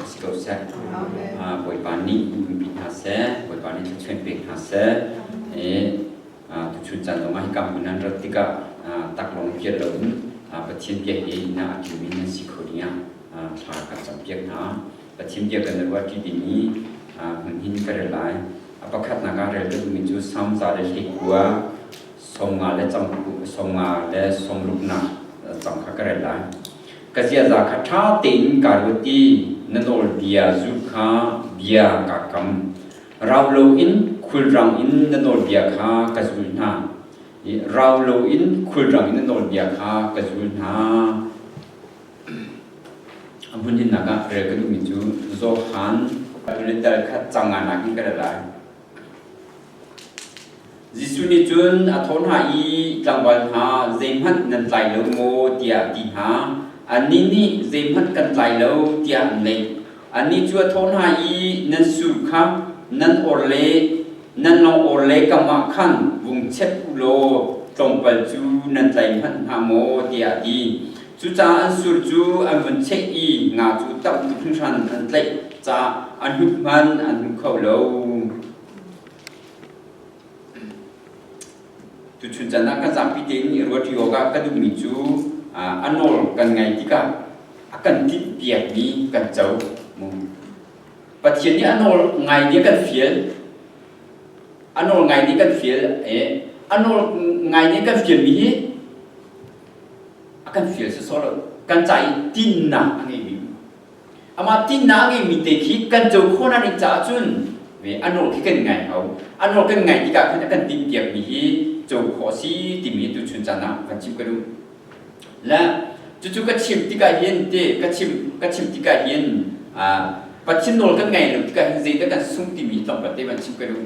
si ko seh. Bawipa nih umpi hna seh, Bawipa nih thluachuan pek hna seh. Tuchun caan zongah hika hmun nan rat tikah taklawng i lo in Pathian bia he ina a ṭimi nan si kho dingah thla ka campiak hna. Pathian bia kan ruahṭi dingmi hmun hin ka rel lai. A pakhatnak ah rel duhmi cu Psalm za le hlekua som nga le cang som nga le som ruknak cang kha ka rel lai ka ziaza kha ṭha tein ka ruat i na nawlbia zulh kha bia kaa kam rau loin khulrang in na nawlbia kha ka zul hna rau loin khulrang in na nawlbia kha ka zul hna a hmun hinnak ah rel ka duhmi cu Johan le dal kha cang nga nakin ka rel lai Jesuh nih cun a thawh hna i, Tlangval hna, zeihmanh nan tlai lo maw? tiah a ti hna. Annih nih, Zeihmanh kan tlai lo, tiah an leh. Annih cu a thawh hna i, Nan sur kha nan or le nan lawng-or le kamah khan vung chep u law tlawmpal cu nan tlai hmanh hna maw? tiah a ti. Cucaah an sur cu an vun cheh i nga cu tam tuk hringhran an tlaih caah an hnuk hman an hmu kho lo. Tuchun can ah ka zapi tein i ruati awkah ka duhmi cu a nawl kan ngaih tikah a kan tinh piakmi kan co. Pathian nih a nawl ngai nih kan fial. A nawl ngai nih kan fial. A nawl ngai nih kan fialmi hi a kan fial sawsawh lo kan ca i tinnak a ngeimi amah tinnak a ngeimi te khi kan co khawhnak ding caah cun ve a nawl khi kan ngai hau a nawl kan ngai tikah khan a kan timhpiakmi hi co khawh a si timi tuchun caan ah kan chim ka duh le cucu ka chim tikah hin te ka chim ka chim tikah hin Pathian nawl kan ngai lo tikah hin zeidah kan sung timi tlawmpal te van chim ka duh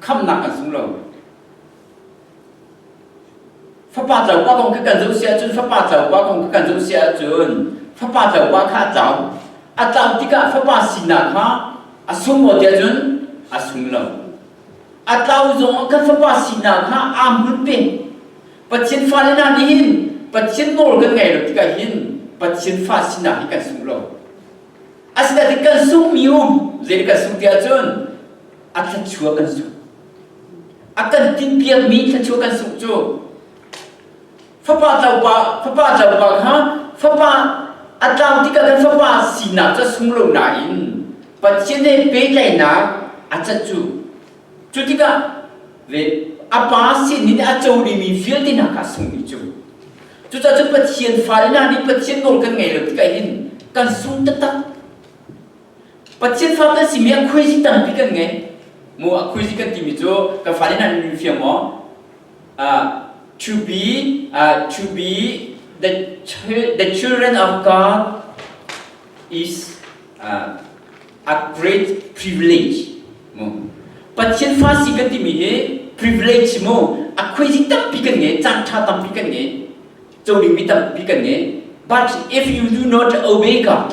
khamnak an zum lo. Fapa tlaupa kong khi kan zoh si ahcun fapa tlaupa kong khi kan zoh si ahcun fapa tlaupa kha a caam. A caam tikah fapa sinak kha a sung maw ti ahcun a sung lo. A tlau zong kan fapa sinak kha aa hmun pe. Pathian fale hna nih hin Pathian nawl kan ngei lo tikah hin Pathian fa sinak hi kan sung lo. Asinain kan sungmi um, zei kan sung ti ahcun a thluachuah kan sungh a kan tinpiakmi thluachuah kan sungh cu fapa tlaupa fapa tlaupa kha fapa a tlang tikah kan fapa sinak cu sung lo nain Pathian he petlainak a cat cu cu tikah ve a pa sin in a co rimi vialte hna kha sungmi cu cucaah cun Pathian fale hna nih Pathian nawl kan ngei lo tikah hin kan sung taktak Pathian fa kan simi ah khuaizik tampi kan ngei. Mu a khuaizik kan timi cu kan fa nih nan fim maw? Uh, to be uh, to be the the children of God is uh, a great privilege. Mu. Pathian fa si kan timi hi privilege mu a khuaizik tampi kan ngei, caan ṭha tampi kan ngei, co dingmi tampi kan ngei. But if you do not obey God,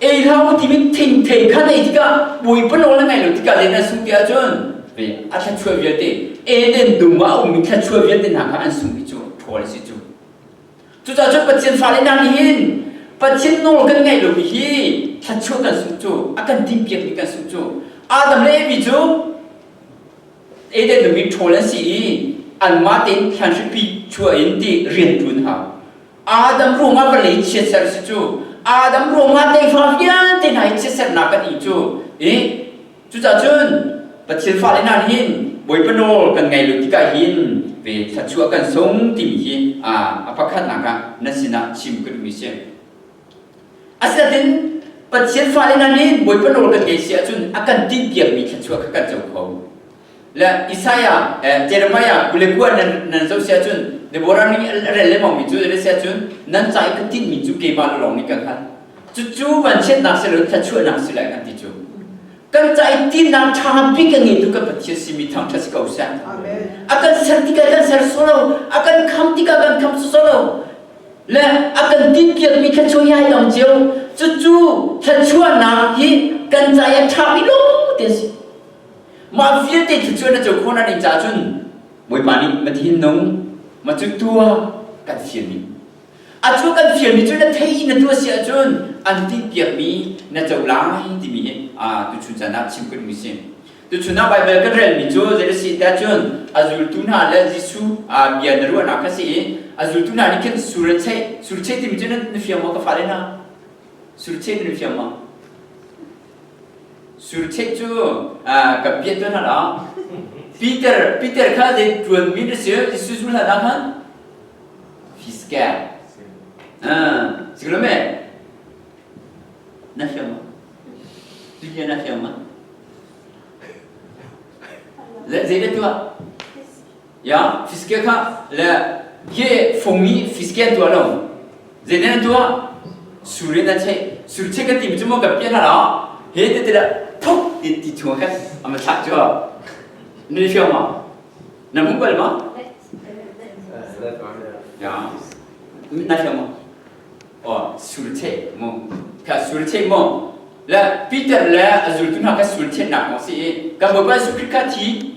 ei lo timin thing thei khan ei tikah bawipa nawl a ngai lo tikah len an sung ti ahcun a thluachuah vialte Eden dum ah a ummi thluachuah vialte hna kha an sungmi cu ṭhawl a si cu cucahcun Pathian fale hna nih hin Pathian nawl kan ngaih lomi hi thluachuah kan sungh cu a kan timpiakmi kan sungh cu Adam le Evi cu Eden dum in ṭhawl an si i anmah tein thlan hripi chuah in ti rian ṭuan hau Adam ruangah vawlei chiatser si cu Adam ruangah teihra vialte hna i chiatsernak kan i cu i cucahcun Pathian fale hna nih hin Bawipa nawl kan ngei lo tikah hin ve thluachuah kan sung timi hi a pakhatnak ah nan sinah chim ka duhmi si. Asinain Pathian fale hna nih Bawipa nawl kan ngei si ahcun a kan tinh piakmi thluachuah kha kan co kho. le Isaiah eh, Jeremiah kule kua nan nan zo sia cun Deborah nih a rel le maumi cu re sia cun nan ca i ka tinh mi cu keimah lawng nih kan hngal cu cu vanchiatnak si lo thluachuahnak si lai kan ti cu kan ca i tinang ṭha bik ka ngeitu kan Pathian si mi thangṭhat si ko seh Amen. a kan ser tikah kan ser solo a kan kham tikah kan kham solo le a kan tinpiak mi thluachuah hi ai dang cio cucu thluachuahnak hi kan ca i a ṭha mi lo te si Mah vialte thil cu na co khawh na ning caah cun Bawipa nih ma thin nung ma cu tua kan fialmi a tua kan fialmi cu na thei in na tua si ahcun an tinhpiakmi na co lai timi hi tuchun caan ah chim kan ui si. Tuchun ah Baibal kan relmi cu zei a si ti ahcun a zultu hna le Jesuh bia na ruahnak kha si i a zultu hna nih khin surcheih surcheih timi cu na fiang maw ka fale hna surcheih na fiang maw Surcheih cu ka piah tuan hlan ah Peter Peter kha zei ṭuanmi na si Jesuh cu hlan ah khan fiska siklo me na fiang ma bia na fiang ma zei na tuah ya fiske kha le ye phongi fisken tua lo zene an tua sure na che sur che ka ti mi chumo ka pia la la he te te la thok ti ti thua kha ama thak chu ni fiang ma na mu kal ma ya na fiang ma o sur che mo ka sur che mo le peter le azul tu na ka sur che nak mo si ka ba ba su kri ka thi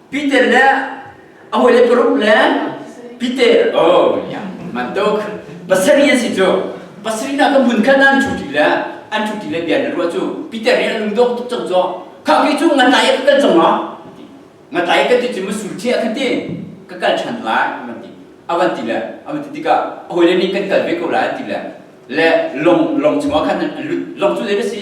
Peter le a hawi le paruk le Peter oh yang man tuk pasarih an si cu pasarih na ka mun khan an thu ti le an thu ti le bia na ruwa cu Peter nih an lungdong tuk cang zo kha ki cu ngan lai ka kal cang ma ngan lai ka ti cu musul che ka ti ka kal than lai avan ti avan ti le avan ti tikah a hawi le nih kan kal ve ko lai an ti le le long long chungah khan an lut long cu dai na si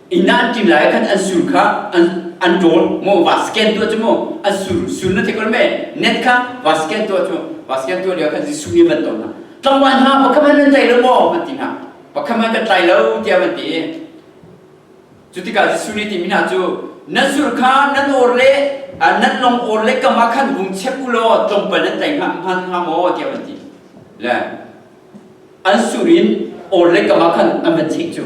Ina an ṭil lai khan an sur kha an an ṭawl maw vasken tuah cu maw an sur sur na thekol me net kha vasken tuah cu vasken tuah lio khan Jesuh nih van tawn hna tlangval hna pakhat hmanh nan tei lo maw an ti hna pakhat hmanh kan tlai lo tiah van ti cu tikah Jesuh nih timi hna cu nan sur kha nan awr le nan long awr le kamah khan vung chep u law tlawmpal nan tei hnga maw tiah van ti le an sur in awr le kamah khan an van chek cu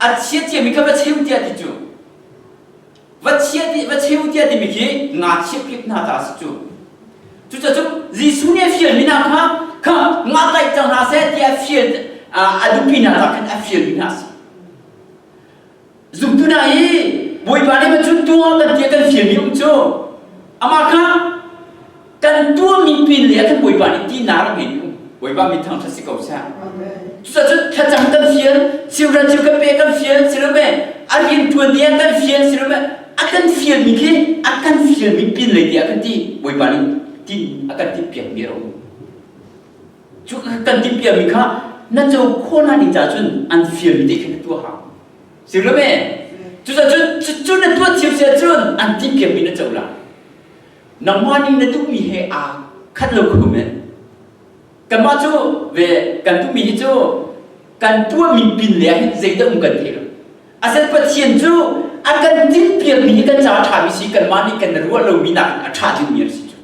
a chia tiami kha va cheu tiah ti cu va chia ti va cheu tiah timi khi ngachiah kip hna ta si cu cucacun Jesuh nih a fialmi hna kha kha ngatlaih cang hna seh tiah fial a dupi hna hna khan a fialmi hna si zumtu hna i Bawipa nih macun tuah kan tiah kan fialmi um cu amah kha Kan tuah mi pin le kan Bawipa nih tinak in Bawipa mit thang si ko sah. Cucacun thlacam kan fial, children cu kan pe kan fial si lo me, a riantuan ni ah kan fial si lo me, a kan fial mi khi a kan fial mi pin lei tiah kan ti Bawipa nih tin a kan ti piak mi a um. Cu kan ti piak mi kha na co khawh na ning cun an fial mi te khin na tuah hang. Si lo me? Cucacun cu na tuah thiam sia cun an ti piak mi na co la. nangmah nih na duhmi he aa khat lo khum in kanmah cu ve kan duhmi hi cu kan tuahmi pin le ah hin zeidah um kan thei lo asen pathian cu a kan tilpiakmi hi kan caah ṭhami si kanmah nih kan ruah lomi nakin a ṭha dingmi a si cu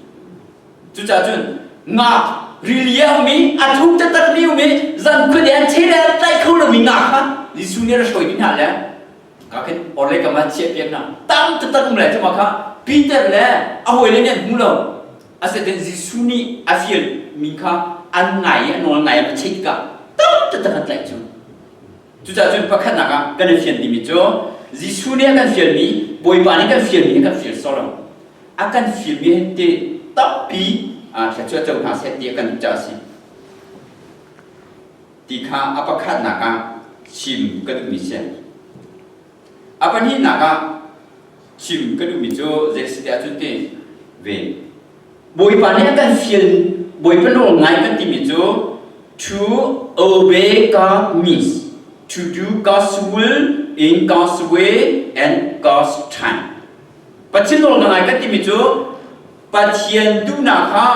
cucaah cun ngak rili a um i a thu taktak mi um i zan khuade an che le an tlaih kho lomi ngak kha Jesuh nih a ra hruai mi hna le Kakin orlei kam an chiah pian na tam tatak le cuma kha Peter le a hawi le nih an hmu lo asiten Jesuh nih a fial min kha an ngai i a nawl ngai a cheih tikah tam tatak an tlaih cu cucah cun pakhatnak ah kan i fian dimi cu Jesuh nih a kan fialmi Bawipa nih kan fialmi a kan fial sawr lo a kan fialmi he te tampi thla cu a co hna seh ti a kan duh caah a si ti kha a pakhatnak ah chim ka duhmi si. A pahnihnak ah chim ka duhmi cu zei si tiah cun ti ve. Bawipa nih a kan feel Bawipa nawl ngai kan timi cu to obey God means to do God's will in God's way and God's time. Pathian nawl na ngai kan timi cu Pathian duhnak kha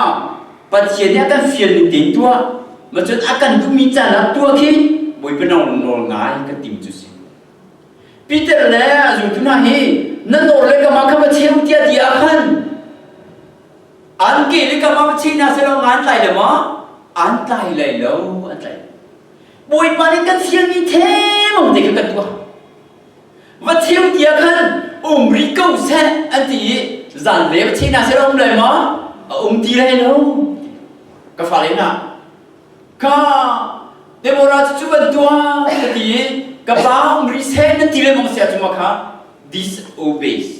Pathian nih a kan fialmi tein tuah ma cun a kan duhmi caan ah tuah khi Bawipa nawl ngai kan tim cu si. Peter le a zultu hna hi nan nawl le kamah kha va cheu tiah ti ah khan an ke le kamah va chei na selaw ngan tlai le ma an tlai lai lo an tlai. Bawipa nih kan fialmi themang te kha kan tuah. Matthew tiah khan um rih ko seh an ti i zan le thei hna seh a um lai maw? A um ti lai lo. Ka fale hna, ka Deborah cu bantuan ka ti i ka pa um rih seh nan ti le mong sia tu ma kha disobeys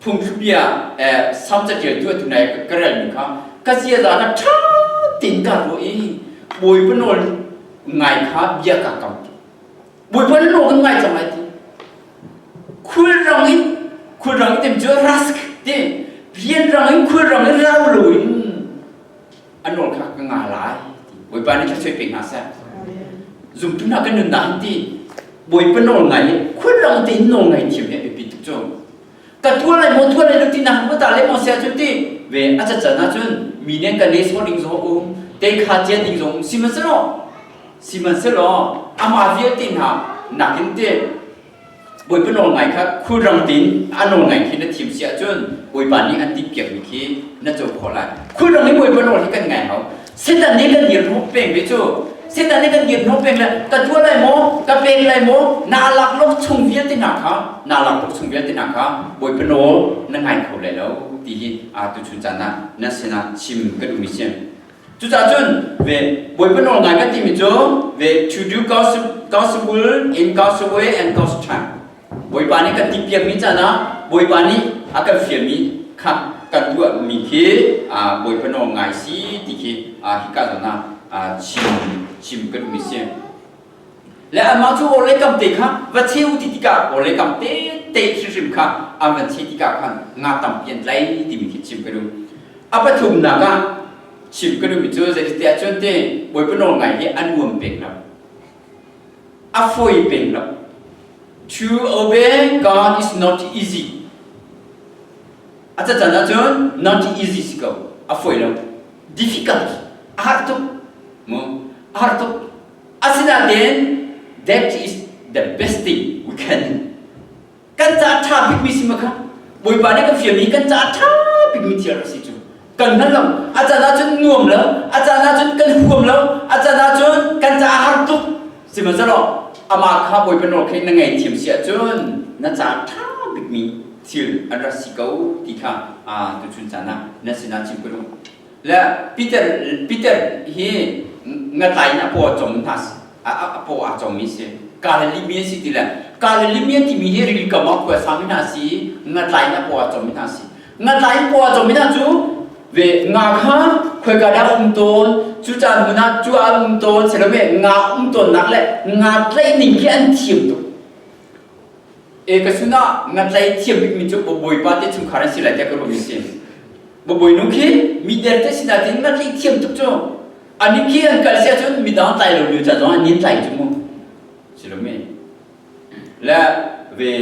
phungthlubia sam caṭial tu atu nai ka relmi kha ka sia zan ah ṭha tein ka ruah i bawipa nawl ngai kha bia ka kam bawipa na nawl kan ngai cang lai ti khulrang in khulrang in tem cu rask ti rianrang in khulrang in lau lo in an rawl kha ka nga lai ti bawipa nih kha soi pek hna seh zumtu hna kan nunnak an ti bawipa nawl ngai le khulrang tein nawl ngai thiam hi a biapi tuk cu ka tual lai maw tual lai lo ti na va ta le maw sia cu ti ve a cacan ahcun mi nen kan les ring zo um te kha cia ding zong um sihmanhsehlaw sihmanhsehlaw amah vialte hna nakin te Bawipa nawlngai kha khulrang tein a nawlngai khi na thim si ahcun Bawipa nih an timh piakmi khi na co khawh lai. Khulrang in Bawipa nawl hi kan ngai hau. Setan nih kan dirhnawh peng ve cu. Setan nih kan dirhnawh peng le ka tuah lai maw, ka pek lai maw, naa lak lo chung vialte hna kha, naa lak lo chung vialte hna kha Bawipa nawl na ngai kho lai lo ti hi aa tuchun caan ah na sinah chim kan duhmi si. Cucaah cun ve Bawipa nawlngai kan timi cu ve to do gossip, gospel in God's way and God's time. Bawipa nih kan ti piakmi caan ah Bawipa nih a kan fialmi kha kan tuahmi khi ah Bawipa nawlngai si ti khi ah hika zawn ah ah chim chim ka duhmi a si. Le anmah cu orhlei kamte kha va cheu ti tikah orhlei kamte te hrimhrim kha an van cheh tikah khan nga tampi an tlai timi khi chim ka duh a pathumnak ah chim ka duhmi cu zeicatiah cun te bawipa nawlngai hi an uam peng lo a foi peng lo to obey God is not easy a cacan ahcun not easy si ko a foi lo difficult a har tuk mu a har tuk Asinain that is the best thing we can. Kan ca a ṭha bikmi si ma kha Bawipa nih kan fialmi kan ca a ṭha bikmi thil a si cu. Kan hngal lo. A can ahcun nuam lo. A can ahcun kan huam lo. A can ahcun kan ca a har tuk. Sihmanhsehlaw amah kha Bawipa nawl kha na ngaihthiam si ahcun na ca a ṭha bikmi thil an rak si ko ti kha tuchun caan ah na sinah chim ko u. le Peter Peter hi ngatlai in a paw a cawm hna a paw aa cawmmi si Galilee mi a si ti le Galilee mi timi hi rili kam ah khua sami hna si i ngatlai in a paw a cawmmi hna si ngatlai in paw a cawmmi hna cu ve nga kha khoika dah um tawn cucaah hmun ah cu ah um tawn silomi nga um tawnnak le nga tlaihning hi an thiam tuk E ka sun ah nga tlai thiam bikmi cu Bawipa te chungkhar an si lai tiah ka ruahmi a si. Bawi nu khi mi derte sinah tiin nga tlai thiam tuk cu a ning khi an kal si ahcun midang tlai lo lio ca zong an nin tlai tu mu si lo mi le ve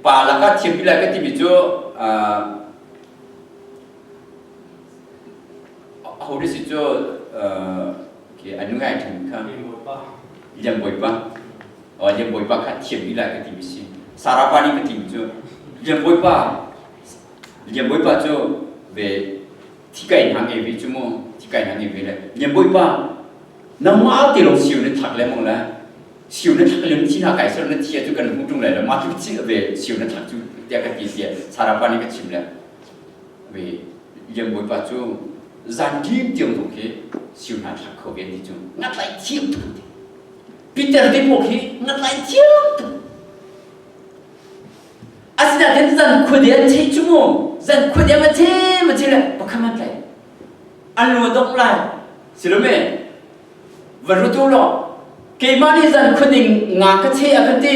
pa laka thiampi lai ka timi cu a ho si cu Okay, anu ngai ṭhan kha Liang Bawipa oh, Liang Bawipa kha thiam ila ka ti mi si Sarapa nih ka ti mi cu Liang Bawipa Liang Bawipa cu ve thikai hna nge ve cu mu thikai hna nge ve le Liang Bawipa nangma ti lo siu na thak le mong le siu na thak le thi na kai sar na thi cu kan hmu ṭung le le ma chu chi ve siu na thak cu tia ka ti tia Sarapa nih ka chim le mi Lian Bawi pa cu zan dim tiang zong khi siu hna thlak kho ve ni cu ngatlai thiam tuk Peter te pawh khi ngatlai thiam tuk asina kan zan khuade an chei chu mu zan khuade ma che ma che le pakham an tlai an lo dok lai silome van rutu lo keimah nih zan khuning nga ka che a kan ti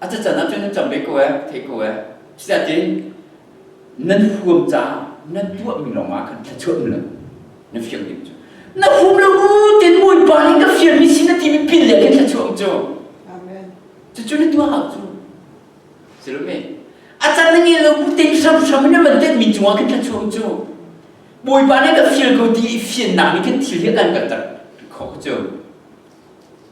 A cachan ah cun nan cam ve ko e, theih ko e. Cucaah nan huam caah nan tuahmi lawngah khan thluachuah mila na fiang ding cu. Na hum lo u tin Bawipa nih ka fianmi si na timi pin le in thluachuah cu. Amen. Cucu na tuah hau cu. Silomi. A can na ngei lo bu te hramhram in na man tenmi cungah kan thluachuah cu. Bawipa nih ka feel ko ti i fiannak nih kan thil hi an kan tar khawh cu.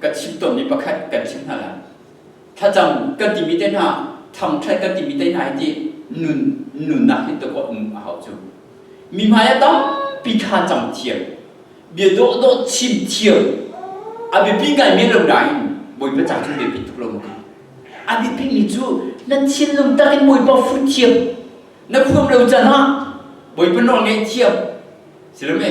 ka chim tawnmi pakhat kan chim hna lai thlacam kan timi te hna thangthat kan timi te hna hi ti nun nunnak hi tuk um a hau cu mi hmaiah tampi thlacam thiam bia dawh dawh chim thiam a biapi ngaimi lo nain bawipa ca cu biapi tuk lo ti a biapimi cu na thinlung tar in bawipa fut thiam na khuam lo can ah bawipa nawl ngaih thiam silome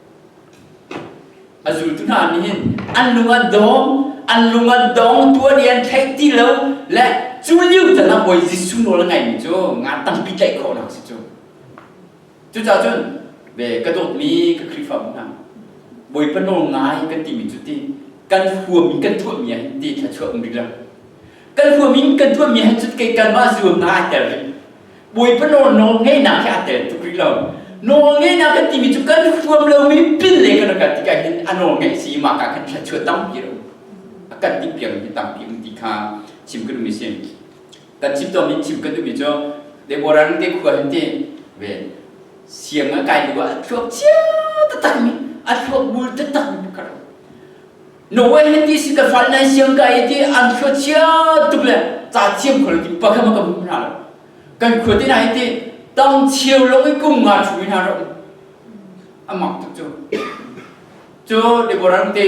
A zultu hna nih hin an lung an dawm, an lung an dong, tuan i an theih ti lo le cu lio tal ah Bawi Jesuh nawl a ngaimi cu nga tampi tlaih khawhnak a si cu. Cucaah cun ve ka dawtmi ka Khrihfabu hna, Bawipa nawl ngai kan timi cu ti kan huam in kan thuammi ah hin ti thluachuah um rih lo. Kan huam in kan thuammi ah hin cun kei kanmah zu na ai tel rih. Bawipa nawl nawl ngeihnak he aa tel tuk rih lo. Nawl ngeihnak kan timi cu kan huam lomi pin le kan rat tikah hin a nawl ngeih si mah ka kan thluachuah tampi lo. A kan ti piang hi tampi an ti kha chim kan um i si. Kan chim tom in chim kan um i cu Deborah ring te khua hin ti ve siang a kai tu a thluak chia tatak mi a thluak bul tatak mi ka ro. Norway hi ti si ka fal nan siang ka i ti an khua chia tuk le ca thiam khol ti pakham ka hmu hna lo kan khua ti na hi ti tang chiau lo i kum nga thu hna ro amak tuk cu cu Deborah te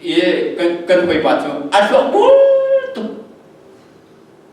i kan kan hoi pa cu a thluak bul tuk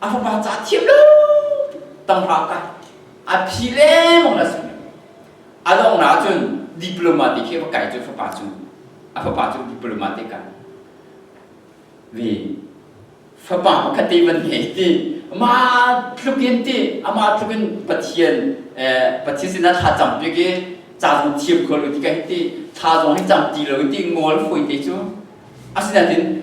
a fapa ca thiam lo tanghra ka a phi lengmang la sin a dong na cun diploma te khi va kai cu fapa cu a fapa cu diploma te ka ve fapa pakhat te van he ti ma tlukin ti ama tlukin pathian pathian sinah thla cam pe ke ca zong thiam khol ti kai ti tha zong hi cam ti lo ti ngol foi te cu asinain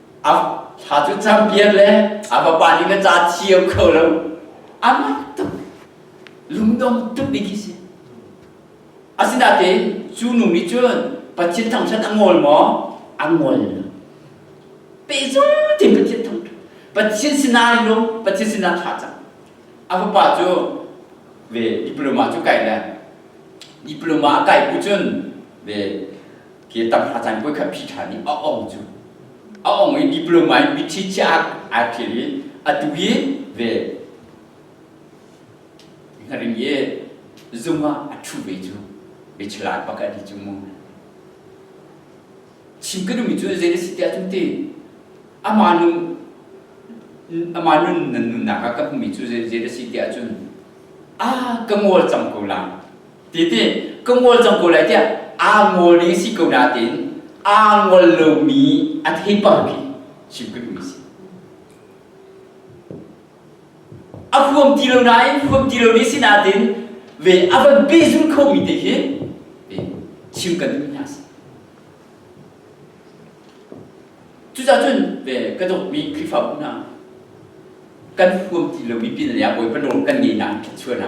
A thla cu champion le a vapa nih na ca thiam kho lo. Amah tuk lungdong tuk ni khi si. Asinain cu nu nih cun Pathian thangṭhat a ngol maw? A ngol. Pehzul tein Pathian thangṭhat. Pathian sinah lung, Pathian sinah thla cang. A fapa cu ve diploma cu kai le diploma kai bu cun ve ke tam a caan voi khat phi ṭhan i a ong cu a ong i diploma in mithi chiah aa ṭhial i a tu hi ve ngaring i zung ah a ṭhu ve cu bechla pakhat hi cu mu chim ka dumi cu zei na si ti ahcun ti ama nu ama nun nan nunnak ah ka hmumi cu zei zei na si ti ahcun a ka ngol cang ko lang Titi ka ngol cang ko lai tiah aa ngol ding si ko nain aa ngol lomi a thei pang khi chim kan ui si. A huam ti lo nain huam ti lo ni si nain ve a van pehzul khomi te khi chim kan ui hna si. Cucacun ve ka dukmi Khrihfabu hna kan huam ti lomi pinle ah bawi panol kan ngei na chuana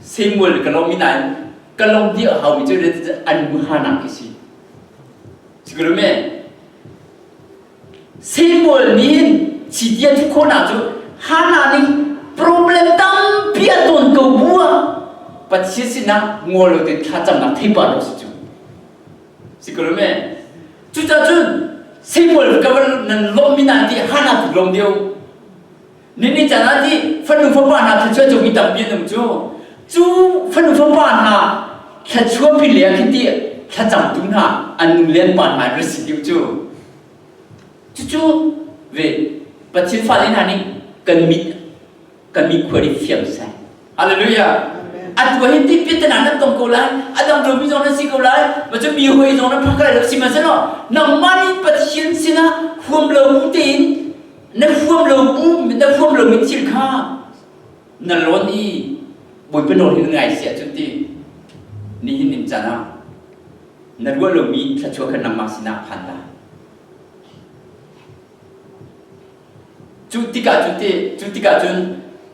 Samuel ka lawm nain ka lawm di a hau mi cu an bu ha nak hi si sikuru me Samuel nih si dia thi khona cu hana ning problem tampi a ton ko bua pathian sinak ngol lo te tha cham nak thei pa lo si cu sikuru me cucacun Samuel ka nan lawm mi nan ti hana tu lawm deu Mimi canah nih fanu fapa hna thluachuah cu mi tampi an um cu cu fanu fapa hna thluachuah pin le ah khiti thlacamtu hna an nu le an pa hna an rat si deuh cu cucu ve Pathian fale hna nih kan mit kan mit khua nih fiang sai Hallelujah. An tua hi tipit tenan nan tong ko lai. Adam lo mi zong nan si ko lai. Ma cu mi hoi zong nan phang kai lo si ma selo. Nangmah nih Pathian sinah huam lo bu tein na huam lo bu na huam lo mi thil kha na lon i buipa nawl hi na ngai sia cu ti ni hin nim cana na ruah lo mi thluachuah kha nangmah sinah phan ta Cu tikah cun ti cu tikah cun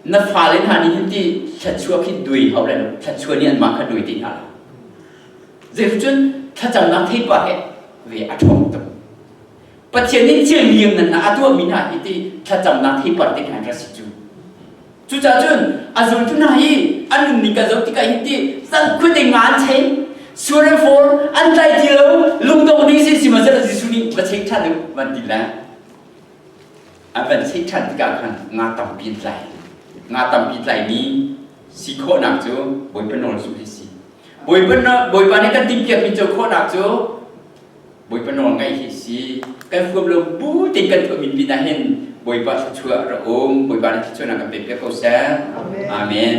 na fale hna nih hin ti thluachuah khi dui hau lai lo thluachuah nih anmah kha dui ti hna lo zeitluk cun thlacamnak theipa he ve a ṭhawng tuk Pathian nih thil lianngan a tuahmi hna hi ti thlacamnak theipar te hna an ra si cu cucaah cun a zultu hna hi an nunning ka zoh tikah hin ti sal khuate nga an chei sur and fawr an tlai ti lo lungdong ding si sihmahsehlaw Jesuh nih va chei ṭhan u van ti le An van theih ṭhan tikah khan nga tampi an tlai. Nga tampi tlaimi si khawhnak cu Bawipa nawl cu hi si. Bawipa, Bawipa nih kan timhpiakmi cu khawhnak cu Bawipa nawl ngaih hi si. Kan huam lo bu tein kan tuahmi pinah hin Bawipa thluachuah rak um. Bawipa nih thluachuahnak kan pe piak ko seh. Amen.